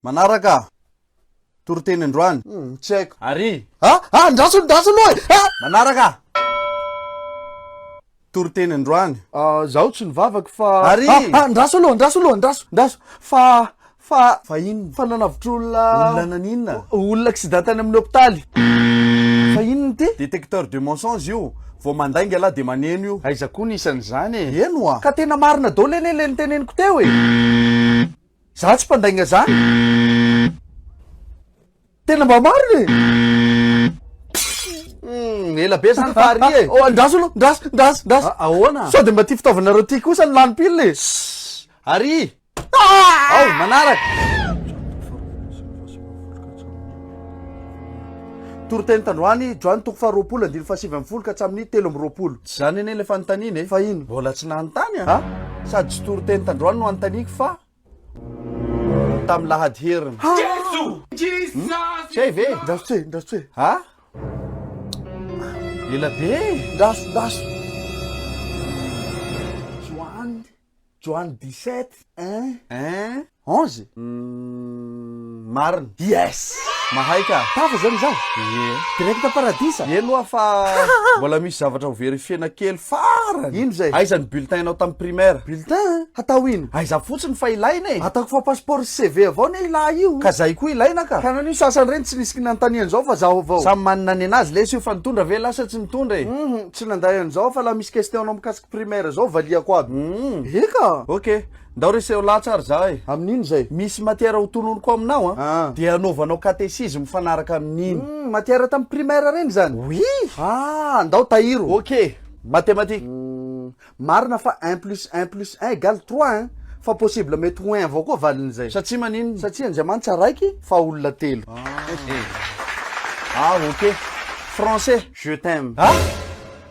Manaraka aho. Toriteny androany. Hum, tsy haiko. Ary. Ha? Ha, andraso, andraso aloha e! Ha! Manaraka aho. Toriteny androany. Ah, zaho tsy nivavaka fa. Ary. Ha, ha, andraso aloha, andraso aloha, andraso, andraso. Fa, fa. Fa inona? Fa nanavotr'olona. Olona naninona? Olona accident tany amin'ny hopitaly. Fa inona ity? Détecteur de mensonge io. Vao mandainga lahy dia maneno io. Aiza koa ny isan'izany e? Eny oa. Ka tena marina daholo anie ilay niteneniko teo e! Za tsy mpandainga zany Tena mba marina e Hum, ela be zany fa ary e Oh, andraso aloha, ndraso, ndraso, ndraso Ah, ahoana? Sao de mba ty fitaovanareo ty kosa no lany pile e Ary Ao, manaraka Toriteny tandroany, Joany toko faharoapolo andininy fahasivy ambin'ny folo ka hatramin'ny telo amby roapolo. Tsy izany anie ilay fanontaniana e! Fa ino? Mbola tsy nanontany an! Ha? Sady tsy toriteny tandroany no anontaniako fa tamin'ny lahady heriny. Ha! Tsy hay ve? Ndraso tsoe, ndraso tsoe. Ha? Ela be e! Ndraso, ndraso. Joany. Joany dix-sept un un onze? Umm marina. Yes! Mahay ka! Tafa zany izaho! Ie. Direct paradisa! Eny oa fa mbola misy zavatra ho verifiena kely farany! Ino zay? Aiza ny bulletin nao tam primaire? Bulletin? Hatao ino? Aiza fotsiny fa ilaina e! Ataoko fa passeport sy CV avao ne ilah io! Ka zay koa ilaina ka! Ka nanino sasany reny tsy nisy kinanotaniany zao fa zaho avao! Samy manana ny anazy lesy io fa nitondra ve lah sa tsy nitondra e! Humm tsy nandray an'izao fa lah misy question anao mikasika Primaire zao valiako aby. Humm. Eka! Ok, ndao reseho latsy ary za e! Amin'ino zay? Misy matière ho tononiko aminao an! Ah. Dia anaovanao catéchisme mifanaraka amin'iny. Humm, matière tam primaire reny zany? Oui! Ah, ndao tahiro! Ok, mathématique. Humm, marina fa un plus un plus un égale trois hein! Fa possible mety ho un avao koa valin'izay. Satsia maninona? Satsia Andriamanitra raiky fa olona telo. Ah ok, français. Je t'aime. Ah!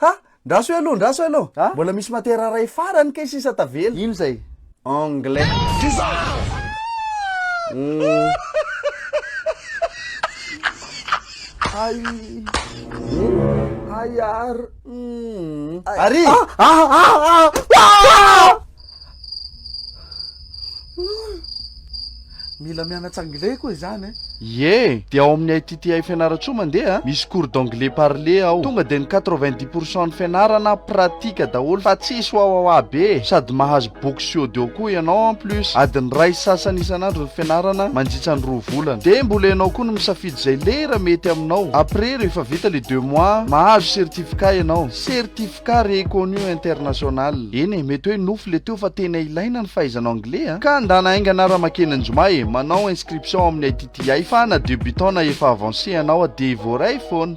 Ha! Ndraso eo aloha, ndraso eo aloha. Ha? Mbola misy matière iray farany kay sisa tavela. Ino zay? Anglais. Ay. Ay ar. Ari! Ah! Ah! Ah! Ah! Mila mianatra anglais koa izany eh. Ie, dia ao amin'ny ITTI Fianarantsoa mandeha, ah. misy cours d'anglais parlé ao. Tonga dia ny 90 pour cent ny fianarana ah, pratique daholo fa tsisy wawawa be eh. Sady mahazo boky sy audio koa ianao en plus. Adiny iray sy sasany isan'andro ny fianarana mandritra ny roa volana. Dia mbola ianao koa no misafidy izay lera mety aminao. Après rehefa vita le deux mois, mahazo certificat ianao. Certificat. ka reconnu international. Eny e, mety hoe nofy le teo fa tena ilaina ny fahaizana anglais a! Ka ndana haingana ara makeny anjoma e, manao inscription ao amin'ny ITTI fa na debutant na efa avancé ianao a, dia voaray foana.